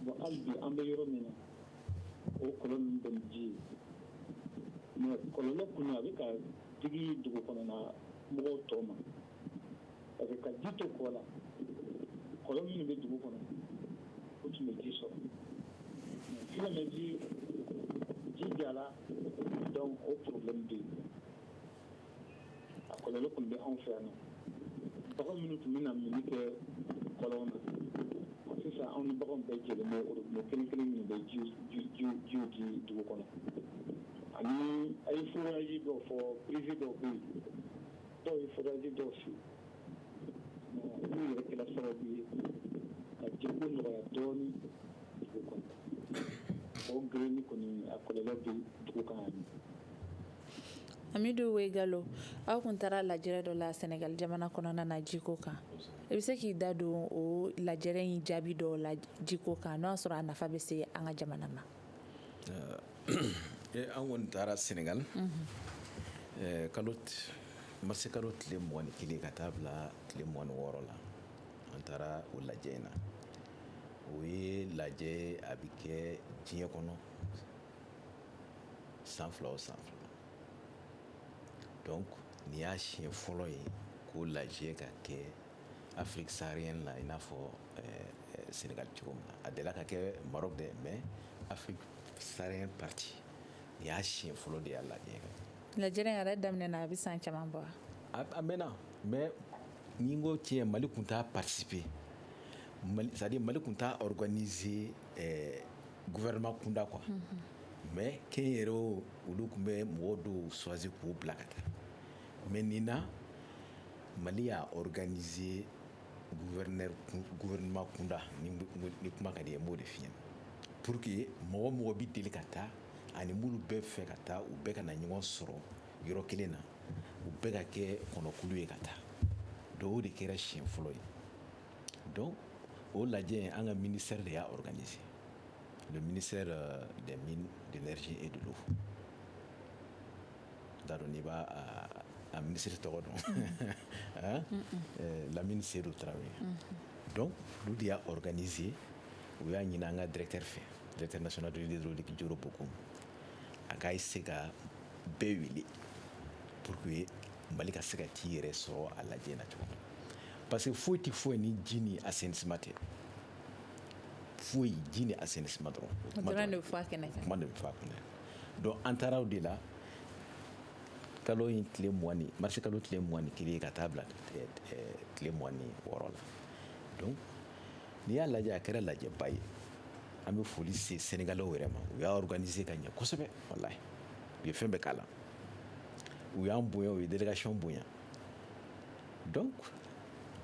bon hali bi an bɛ yɔrɔ min na o kɔlɔn ninnu bɛɛ ni ji ye mais kɔlɔlɔ kɔni a bɛ ka digi dugu kɔnɔna mɔgɔw tɔ ma parce que ka ji to kɔ la kɔlɔn minnu bɛ dugu kɔnɔ o tun bɛ ji sɔrɔ mais ji jala donc o problème bɛ yen a kɔlɔlɔ kɔni bɛ anw fɛ yan bagan minnu tun bɛ na minni kɛ kɔlɔn na sisan anw ni baganw bɛɛ jɛlen bɛ kelen kelen min bɛ ji di dugu kɔnɔ ani a ye forage dɔ fɔ privé dɔ bɛ yen dɔw ye forage dɔ ci olu yɛrɛ kɛra sababu ye ka jiko nɔgɔya dɔɔnin dugu kɔnɔ o gerenni kɔni a kɔlɔlɔ bɛ dugu kan Amidu wayigalo aw kun taara lajɛrɛ dɔ la sɛnɛgali jamana kɔnɔna na jiko kan i bɛ se k'i da don o lajɛrɛ in jaabi dɔ la jiko kan n'a y'a sɔrɔ a nafa bɛ se an ka jamana ma an kɔni taara sɛnɛgali marisikalo tile mugan ni kelen ka taa bila tile mugan ni wɔɔrɔ la an taara o lajɛ in na o ye lajɛ a bɛ kɛ diɲɛ kɔnɔ san fila o san fila donc nin y'a siɲɛ fɔlɔ ye k'o lajɛ ka kɛ afrique saharienne na i n'a fɔ eh, eh, sénégal cogo min na a delila ka kɛ maroc dɛ mais afrique saharienne partie nin y'a siɲɛ fɔlɔ de y'a lajɛ ka kɛ lajɛrɛ yɛrɛ daminɛna a bɛ san caman bɔ a mɛnna mais ni n ko tiɲɛ mali tun t'a participer c'est à dire mali tun t'a organiser eh, gouvernement kunda quoi mais kɛnyɛrɛw olu tun bɛ mɔgɔ dɔw choisi k'u bila ka taa mais nin na mali y'a organiser gouverneur gouvernement kunda ni ni kuma ka di ye n b'o de f'i ɲɛ pour que mɔgɔ o mɔgɔ bɛ deli ka taa ani minnu b'a fɛ ka taa u bɛɛ ka na ɲɔgɔn sɔrɔ yɔrɔ kelen na u bɛɛ ka kɛ kɔnɔkulu ye ka taa donc o de kɛra siɲɛ fɔlɔ ye donc o lajɛ an ka ministère de y'a organiser le ministère euh, des mines de l'énergie et de l'eau t'a dɔn n'i b'a a minisiri tɔgɔ dɔn Lamine Seydou Traoré donc olu de y'a organiser u y'a ɲini an ka directeur fɛ directeur national de l'hydraulique Djoro Bocoum a k'a se ka bɛɛ wele pour que mali ka se ka t'i yɛrɛ sɔrɔ a lajɛ na cogo parce que foyi tɛ foyi ni ji ni assainissement tɛ foyi ji ni assainissement dɔrɔn kuma de bɛ fɔ a kɛnɛ kan kuma de bɛ fɔ a kɛnɛ donc an taara o de la kalo in tile mugan ni marisi kalo tile mugan ni kelen ka taa bila tile mugan ni wɔɔrɔ la donc n'i y'a lajɛ a kɛra lajɛba ye an bɛ foli se sɛnɛgalɛw yɛrɛ ma u y'a organiser ka ɲɛ kosɛbɛ walayi u ye fɛn bɛɛ k'a la u y'an bonya u ye délégation bonya donc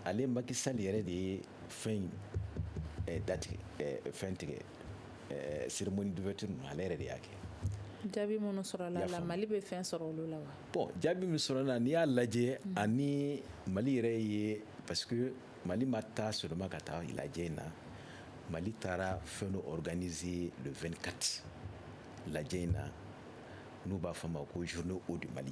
ale Macky Sall yɛrɛ de ye fɛn in eh, datigɛ eh, fɛn tigɛ eh, cérémonie d'ouverture ninnu ale yɛrɛ de y'a kɛ jaabi minnu sɔrɔla la mali bɛ fɛn sɔrɔ olu la wa bon jaabi min sɔrɔla la n'i y'a lajɛ mm. ani mali yɛrɛ ye parce que mali ma taa seulement ka taa lajɛ in na mali taara fɛn dɔ organiser le 24 lajɛ in na n'u b'a fɔ a ma ko journée eau du mali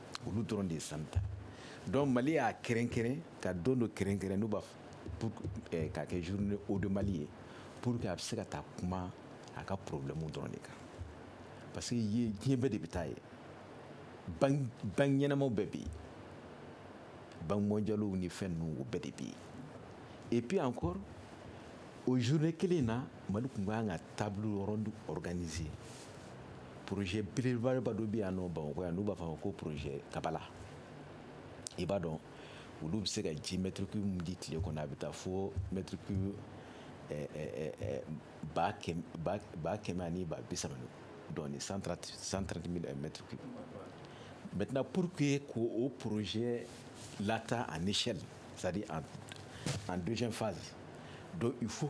olu dɔrɔn de ye sanu ta donc mali y'a kɛrɛnkɛrɛn ka don dɔ kɛrɛnkɛrɛn n'u b'a pour eh, k'a kɛ journée eau de mali ye pour que a bɛ se ka taa kuma a ka problème dɔrɔn de kan parce que ye diɲɛ bɛɛ de bɛ taa yen banque banque ɲɛnamaw bɛɛ bɛ yen banque mondialew ni fɛn ninnu o bɛɛ de bɛ yen et puis encore o journée kelen in na mali tun ka kan ka table ronde organiser pze bilenbaa dɔ bɛ yan nɔ bamakɔ yan n'u b'a fɔ ko pze kabala i b'a dɔn olu bɛ se ka ji mɛtiriki di tile kɔnɔ a bɛ taa fo mɛtiriki ba kɛmɛ ani ba bi saba dɔn san santi mɛtiriki mɛtina pur que ko o poroze lata ani sɛli sadi an donso faz don i fo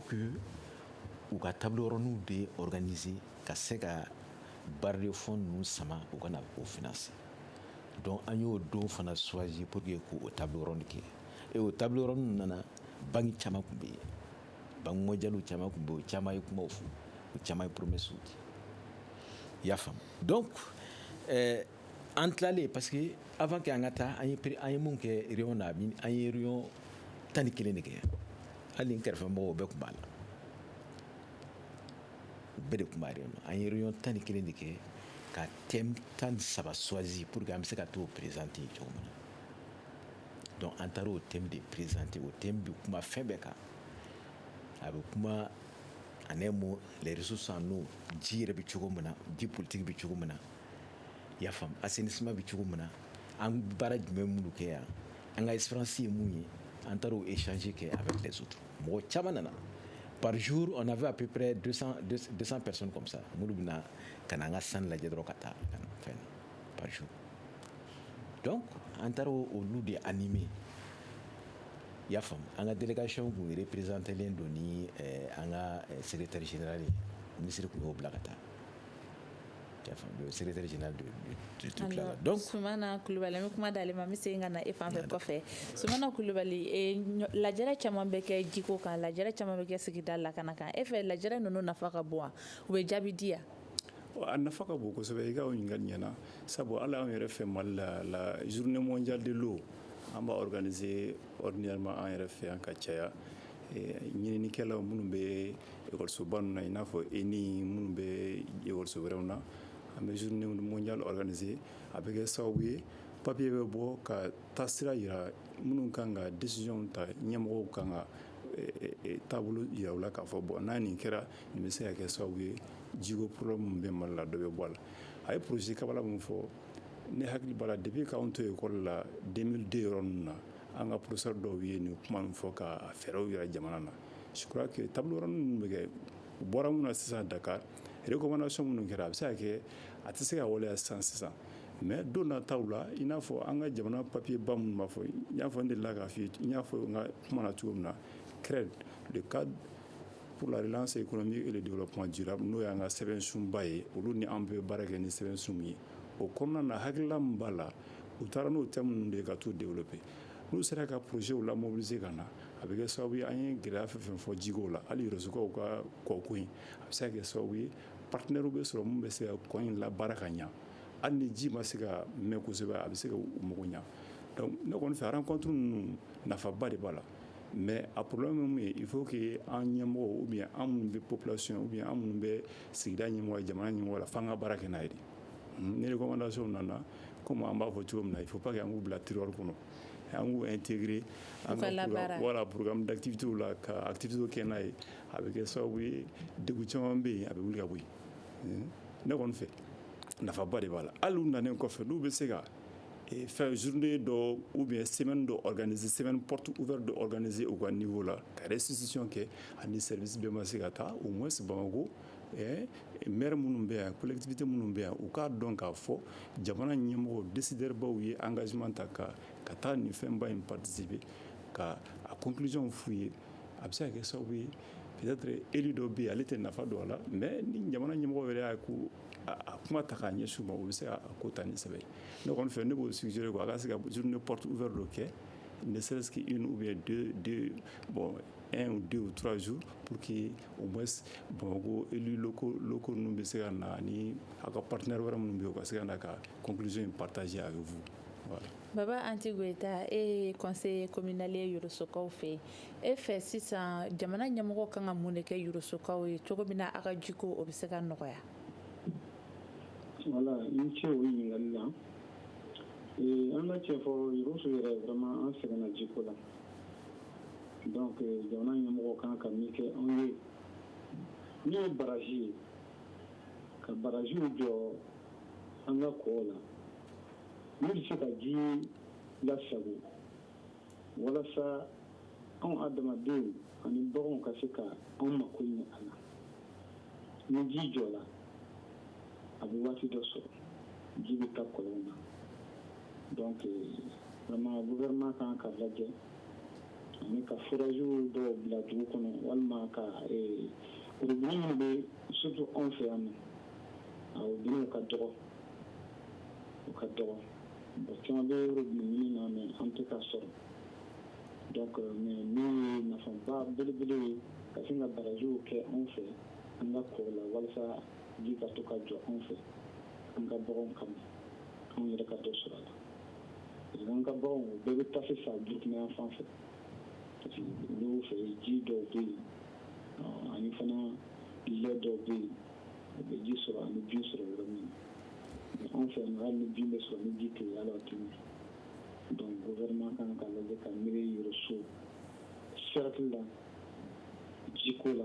u ka table rondew de organiser ka se ka bailleurs de fonds ninnu sama u ka na o financer donc an y'o don fana choisir pour que k'o table ronde kɛ et o table ronde nana banki caman tun bɛ yen banki mondialew caman tun bɛ yen o caman ye kumaw fɔ o caman ye promesses di i y'a faamu donc ɛɛ eh, An tilalen parce que avant que an ka taa an an ye mun kɛ réunion na an ye réunion tan ni kelen de kɛ hali kɛrɛfɛ mɔgɔw bɛɛ tun b'a la bɛɛ de tun b'a réunion na an ye réunion tan ni kelen de kɛ ka thème tan ni saba choisir pour que an bɛ se ka t'o présenter cogo min na donc an taara o thème de présenter o thème bɛ kuma fɛn bɛɛ kan a bɛ kuma en un mot les ressources en eau ji yɛrɛ bɛ cogo min na ji politique bɛ cogo min na y'a faamu assainissement bɛ cogo min na an baara jumɛn minnu kɛ yan an ka expérience ye mun ye an taara o échange kɛ avec les autres mɔgɔ caman nana par jour on avait à peu près 200 200 personnes comme ça minnu bɛ na ka na an ka stand lajɛ dɔrɔn ka taa ka na fɛn par jour donc an taara olu de animer i y'a faamu an ka délégation tun représentélen don ni eh, an ka eh, secrétaire général ye minisiri tun y'o bila ka taa Kulubali an bɛ kuma d'ale ma n bɛ segin ka na e fan fɛ kɔfɛ sumana kulubali lajɛ caman bɛ kɛ jiko kan lajɛ caman bɛ kɛ sigida lakana kan e fɛ lajɛ ninnu nafa ka bon wa u bɛ jaabi di yan a nafa ka bon kosɛbɛ i ka ɲininkali ɲɛna sabu hali an yɛrɛ fɛ mali la la journée mondiale de l'eau an b'a organiser ordinairement an yɛrɛ fɛ yan ka caya ɲininikɛlaw minnu bɛ Ekɔlisoba ninnu na i n'a fɔ ENI minnu bɛ ekɔliso wɛrɛw na an bɛ journée mondiale organiser a bɛ kɛ sababu ye papiye bɛ bɔ ka taasira jira minnu kan ka décision ta ɲɛmɔgɔw kan ka taabolo jira u la k'a fɔ bon n'a nin kɛra nin bɛ se ka kɛ sababu ye jiko problème minnu bɛ mali la dɔ bɛ bɔ a la a ye projet kabala min fɔ ne hakili b'a la depuis k'an to ekɔli la deux mille deux yɔrɔ ninnu na an ka professeur dɔw ye nin kuma min fɔ ka fɛɛrɛw jira jamana na je crois que table ronde ninnu bɛ kɛ u bɔra min na sisan Dakar recommandation minnu kɛra a bɛ se ka kɛ a tɛ se ka waleya sisan sisan mais don nataw la i n'a fɔ an ka jamana papier ba minnu b'a fɔ n y'a fɔ n delila k'a fɔ n y'a fɔ n ka kuma na cogo min na CREDD le cadre pour la relance économique et le développement durable n'o y'an ka sɛbɛn sunba ye olu ni an bɛ baara kɛ ni sɛbɛn sun min ye o kɔnɔna na hakilila min b'a la u taara n'o thème ninnu de ye ka taa u développer n'u sera ka projetw la mobiliser ka na a bɛ kɛ sababu ye an ye gɛlɛya fɛn fɛn fɔ jiko la hali Yorosokaw ka kɔko in a bɛ se ka kɛ sababu ye partenairew bɛ sɔrɔ min bɛ se ka kɔ in labaara ka ɲɛ hali ni ji ma se ka mɛn kosɛbɛ a bɛ se ka u mako ɲɛ ne kɔni fɛ rencontre ninnu nafaba de b'a la mais a problème ye mun ye il faut que an ɲɛmɔgɔ ou bien an minnu bɛ population ou bien an minnu bɛ sigida ɲɛmɔgɔ jamana ɲɛmɔgɔ la fo an ka baara kɛ n'a ye Nikomandasi nana kɔmi an b'a fɔ cogo min na i fo pa que an k'u bila tiriɔri kɔnɔ an' teri an kaurulauru datigiw la ka tigiw kɛ n'a ye a bɛ kɛ sababu ye dugu caman bɛ yen a bɛ wuli ka bɔ ne kɔni fɛ nafaba de b'a la hali u nan kɔfɛ n'u bɛ se ka fɛn zurununi dɔ u bɛ sɛbɛn dɔ gananize sɛbɛn ptu u bɛ don gananize u ka ninfo la ka sisisi kɛ ani sɛ bɛ ma se ka taa u ma se bamakɔ ɛɛ maire minnu bɛ yan collectivité minnu bɛ yan u k'a dɔn k'a fɔ jamana ɲɛmɔgɔ décideur-baw ye engagement ta ka taa nin fɛnba in participer ka a conclusion f'u ye a bɛ se ka kɛ sababu ye peut-être élu dɔ bɛ yen ale tɛ nafa dɔn a la mais ni jamana ɲɛmɔgɔ yɛrɛ y'a ko a kuma ta k'a ɲɛsin u ma u bɛ se ka a ko ta ni sɛbɛ ye ne kɔni fɛ ne b'o suggérer quoi a ka se ka journée porte ouverte dɔ kɛ ne serait-ce qu'une ou bien deux deux bon 1 ou 2 ou 3 jours pour que au moins Bamakɔ élus locaux ninnu bɛ se ka na ani a ka partenaire wɛrɛ minnu bɛ yen u ka se ka na ka conclusion in partager avec vous. Voilà. Baba Anti Goita e ye conseiller communal ye Yorosokaw fɛ yen. E fɛ sisan jamana ɲɛmɔgɔ kan ka mun de kɛ Yorosokaw ye cogo min na a ka jiko o bɛ se ka nɔgɔya? Voilà, i ni ce o ɲininkali la. Ee, an ka cɛn fɔ Yoroso yɛrɛ vraiment an sɛgɛnna jiko la. Donc jamana ɲɛmɔgɔ kan ka min kɛ anw ye n'o ye barrage ye ka barragew jɔ an ka kɔw la min bɛ se ka ji lasago walasa anw adamadenw ani baganw ka se ka anw mako ɲɛ a la ni ji jɔla a bɛ waati dɔ sɔrɔ ji bɛ taa kɔlɔn na donc vraiment gouvernement kan ka lajɛ ani ka foragew dɔw bila dugu kɔnɔ walima ka robinet minnu bɛ surtout anw fɛ yan na robinetw ka dɔgɔ u ka dɔgɔ caman bɛ robinet ɲini na mais an tɛ ka sɔrɔ donc min ye nafaba belebele ye ka sin ka barajiw kɛ anw fɛ an ka kɔ la walasa ji ka to ka jɔ anw fɛ an ka bagan kama anw yɛrɛ ka dɔ sɔrɔ a la ka baganw bɛɛ bɛ taa sisan Burukina yan fan fɛ parce que olu fɛ ji dɔw bɛ yen ani fana lɛ dɔw bɛ yen u bɛ ji sɔrɔ ani bin sɔrɔ yɔrɔ min na anw fɛ yan hali ni bin bɛ sɔrɔ ni ji tɛ yen a la a tɛ ɲɛ donc gouvernement kan ka lajɛ ka miiri Yɔrɔso cercle la jiko la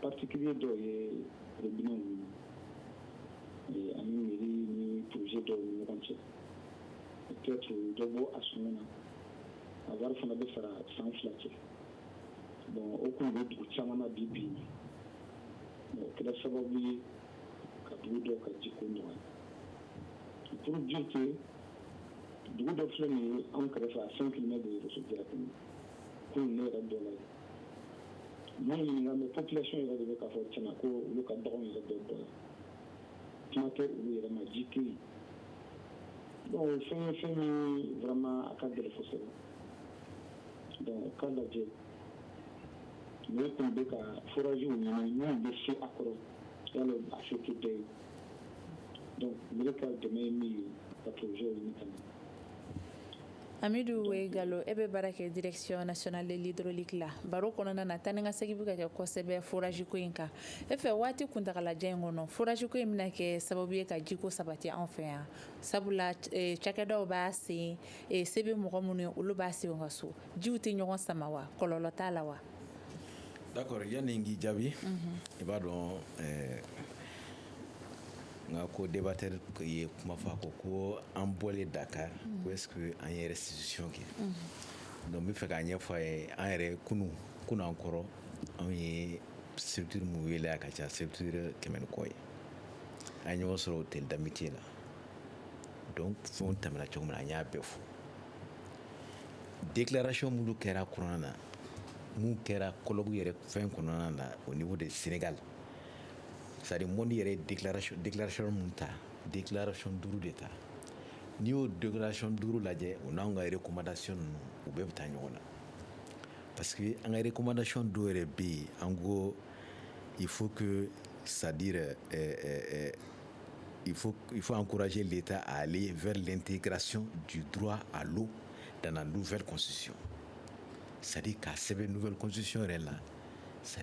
particulier dɔw ye robinetw minɛ ani mairie ni projet dɔw ni ɲɔgɔn cɛ peut-être dɔ bɔ a sɔngɔ na a wari fana bɛ sara san fila cɛ bon o kun bɛ dugu caman na bi bi in o kɛla sababu ye ka dugu dɔ ka ji ko nɔgɔya pour dire que dugu dɔ filɛ nin ye anw kɛrɛfɛ a cinq kilomètres de ye Jarakungo ne yɛrɛ dɔ ye Maa ɲininka mais population yɛrɛ de bɛ k'a fɔ tiɲɛ na ko olu ka bagan yɛrɛ dɔ bɔ kuma tɛ olu yɛrɛ ma ji tɛ yen donc fɛn ye fɛn min vraiment a ka gɛlɛn kosɛbɛ donc k'a lajɛ ne kun bɛ ka foragew ɲini minnu bɛ se a kɔrɔ yala a se tɛ bɛɛ ye donc ne ka dɛmɛ ye min ye ka projetw ɲini ka na Amidu ye Jalo e bɛ baara kɛ direction nationale de l'hydraulique la baro kɔnɔna na taa ni ka segin bɛ ka kɛ kosɛbɛ forage ko in kan e fɛ waati kuntaalajan in kɔnɔ forage ko in bɛna kɛ sababu ye ka jiko sabati an fɛ yan sabula cakɛdaw b'a sen se bɛ mɔgɔ minnu ye olu b'a sen ka so jiw tɛ ɲɔgɔn sama wa kɔlɔlɔ t'a la wa d'accord yanni n k'i jaabi i b'a dɔn N ka codébatteur ye kuma fɔ a ko ko an bɔlen Dakar ko est-ce que an ye restitution kɛ donc n bɛ fɛ k'a ɲɛfɔ a ye an yɛrɛ kunun kun anan kɔrɔ anw ye structure minnu wele a ka ca structure kɛmɛ ni kɔ ye an ye ɲɔgɔn sɔrɔ hôtel de l'Amitié la donc fɛn tɛmɛna cogo min na an y'a bɛɛ fo déclaration minnu kɛra kɔnɔna na mun kɛra colloque yɛrɛ fɛn kɔnɔna na au niveau de Sénégal Sari mɔndi yɛrɛ dekirec min ta dekilarec duuru de ta n'i y'o donkilarec duuru lajɛ u n'an ka yɛrɛ kumadac ninnu u bɛɛ bɛ taa ɲɔgɔn na parce que an ka kumadac dɔw yɛrɛ bɛ yen an ko i fo sadi i fɔ an kuraje de ta ale vlen tɛ kɛracon ju dugwa a don dan n fɛsi sadi ka sɛbɛn nfɛsisi yɛrɛ la sa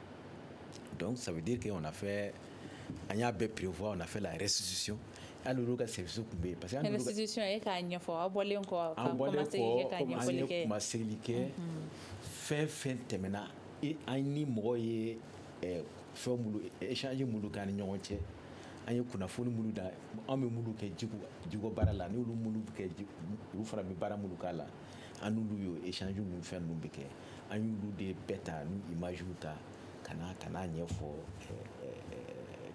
donc ça veut dire qu'on a fait an y'a bɛɛ prévoir on a fait la restitution hali olu ka service tun bɛ yen parce que an restitution e k'a ɲɛfɔ aw bɔlen kɔ an bɔlen kɔ komi an ye kumasegili kɛ fɛn fɛn tɛmɛna an ni mɔgɔw ye fɛn minnu échange minnu k'an ni ɲɔgɔn cɛ an ye kunnafoni minnu da an bɛ minnu kɛ jiko jiko baara la n'olu minnu bɛ kɛ olu fana bɛ baara minnu k'a la an n'olu y'o échange ninnu fɛn ninnu bɛɛ kɛ an y'olu de bɛɛ ta n'u images ta ka na ka n'a ɲɛfɔ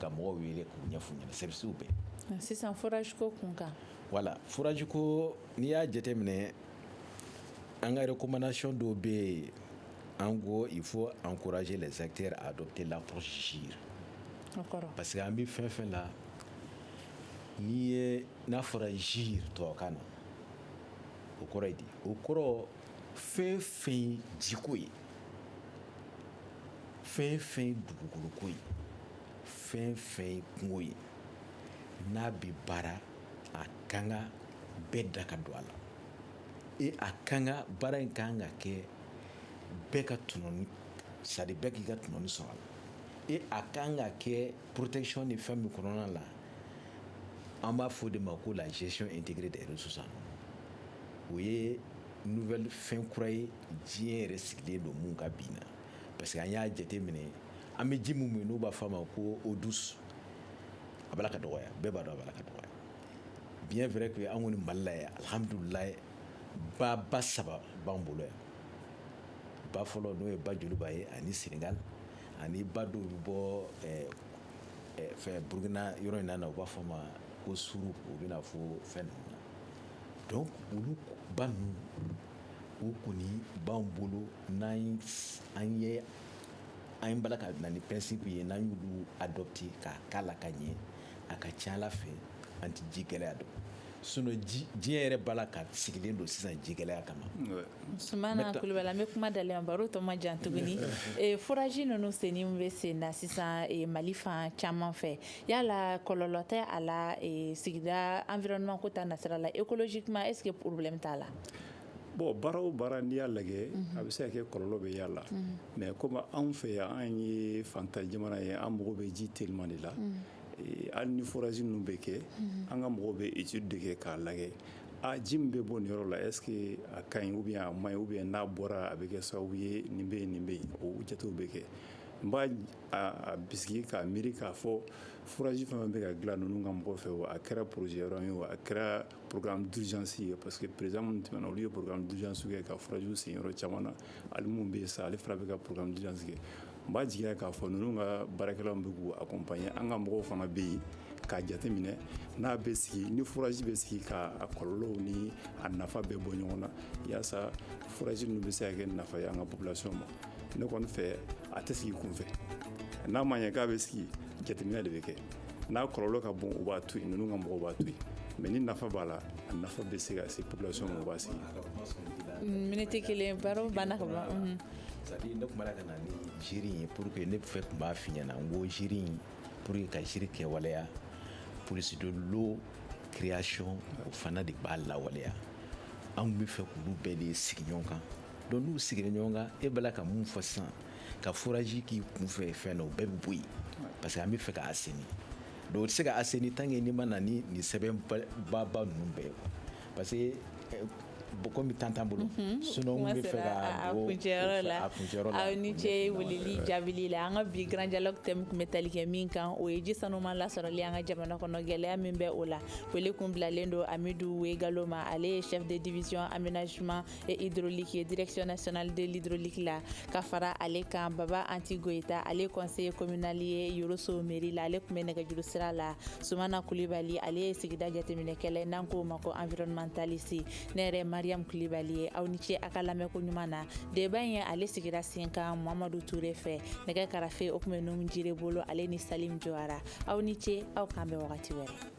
ka mɔgɔw wele k'u ɲɛf'u ɲɛna services bɛɛ sisan forage ko kun kan voilà forage ko n'i y'a jateminɛ an ka recommandation dɔw bɛ yen an ko il faut encourager les acteurs à adopter l'approche gire parce que an bɛ fɛn fɛn la n'i ye n'a fɔra gire tubabukan na o kɔrɔ ye di o kɔrɔ fɛn fɛn ye jiko ye fɛn fɛn ye dugukoloko ye fɛn fɛn ye kungo ye n'a bɛ baara a kan ka bɛɛ da ka don a la e a kan ka baara in kan ka kɛ bɛɛ ka tɔnɔni c'est-à-dire bɛɛ k'i ka tɔnɔni sɔrɔ a la e a kan ka kɛ protection ni fɛn min kɔnɔna la an b'a fɔ de ma ko la gestion intégrée des ressources o ye nouvelle fɛn kura ye diɲɛ yɛrɛ sigilen don min kan bi na parce que an y'a jate minɛ an bɛ ji min min n'u b'a fɔ a ma ko eau douce a b'a la ka dɔgɔya bɛɛ b'a dɔn a b'a la ka dɔgɔya bien vrai que an kɔni Mali la yan alihamdulila ba ba saba b'an bolo yan ba fɔlɔ n'o ye ba joliba ye ani Sénégal ani ba dɔw bɛ bɔ fɛn Burukina yɔrɔ in na u b'a fɔ ma ko Suru u bɛ na fo fɛn ninnu na donc olu ba ninnu u kɔni b'an bolo n'an ye an b'a la ka na ni principe ye n'an y'olu adopté k'a k'a la ka ɲɛ a ka ca ala fɛ an tɛ ji gɛlɛya dɔn sinon diɲɛ yɛrɛ b'a la ka sigilen don sisan ji gɛlɛya kama sumana kulubali an bɛ kuma dalen baro tɔ ma jan tuguni eh, forage ninnu senni bɛ sen na sisan eh, mali fan caman fɛ yala kɔlɔlɔ tɛ a la eh, sigida environnement ko ta nasira la écologiquement est ce que problème t'a la bon baara o baara n'i y'a lajɛ mhm. a bɛ se ka kɛ kɔlɔlɔ bɛ y'a la mais mhm. comme anw fɛ yan an ye fantan jamana ye an mago bɛ ji teliman de la mhm. Hali ni forage ninnu bɛ kɛ an ka mɔgɔw bɛ étude de kɛ k'a lajɛ a ji min bɛ bɔ nin yɔrɔ la est ce que a ka ɲi ou bien a man ɲi ou bien n'a bɔra a bɛ kɛ sababu ye nin bɛ nin bɛ yen o jatew bɛ kɛ n b'a bisigi k'a miiri k'a fɔ forage fana bɛ ka dilan ninnu ka mɔgɔw fɛ wa a kɛra projet ye a kɛra programme d'urgence ye parce que président minnu tɛmɛna olu ye programme d'urgence kɛ ka forage sen yɔrɔ caman na hali min bɛ yen sa ale fana bɛ ka programme d'urgence n b'a jigiya k'a fɔ ninnu ka baarakɛlaw bɛ k'u accompagner an ka mɔgɔw fana bɛ yen k'a jateminɛ n'a bɛ sigi ni forage bɛ sigi k'a kɔlɔlɔw ni a nafa bɛɛ bɔ ɲɔgɔn na yaasa forage ninnu bɛ se ka kɛ nafa ye an ka population ma ne kɔni fɛ a tɛ sigi kunfɛ n'a ma ɲɛ k'a bɛ sigi jateminɛ de bɛ kɛ n'a kɔlɔlɔ ka bon u b'a to yen ninnu ka mɔgɔ b'a to yen mais ni nafa b'a la a nafa bɛ se ka se population ma u b'a sigi minute kelen baro banna ka C'est-à-dire ne kumana ka na ni GIRE in ye pour que ne fɛ tun b'a f'i ɲɛna n ko GIRE in pour que ka GIRE kɛwaleya police de l'eau création o fana de b'a lawaleya anw bɛ fɛ k'olu bɛɛ de sigi ɲɔgɔn kan donc n'u sigira ɲɔgɔn kan e b'a la ka mun fɔ sisan ka forage k'i kun fɛ fɛn na o bɛɛ bɛ bɔ yen parce que an bɛ fɛ ka assainir donc o tɛ se ka assainir tant que n'i ma na ni nin sɛbɛnbaba ninnu bɛɛ ye parce que euh, bon comme temps t'an bolo mhm. sinon n bɛ fɛ ka don kuncɛyɔrɔ la aw ni ce weleli jaabili la an ka bi grand dialogue thème tun bɛ tali kɛ min kan o ye ji sanuman lasɔrɔli an ka jamana kɔnɔ gɛlɛya min bɛ o la wele kun bilalen don amidu wegalo ma ale ye chef de division aménagement hydraulique ye direction nationale de l'hydraulique la ka fara ale kan baba anti goyita ale conseiller communal ye yɔrɔso mairie la ale tun bɛ nɛgɛjuru sira la sumana kulibali ale ye sigida jateminɛkɛla n'an k'o ma ko environnementaliste ne yɛrɛ mariam kulibali ye aw ni ce a ka lamɛnko ɲuman na deba in ye ale sigira sen kan mamadu ture fɛ nɛgɛ karafe o tun bɛ numu jire bolo ale ni salim jawara aw ni ce aw k'an bɛn wagati wɛrɛ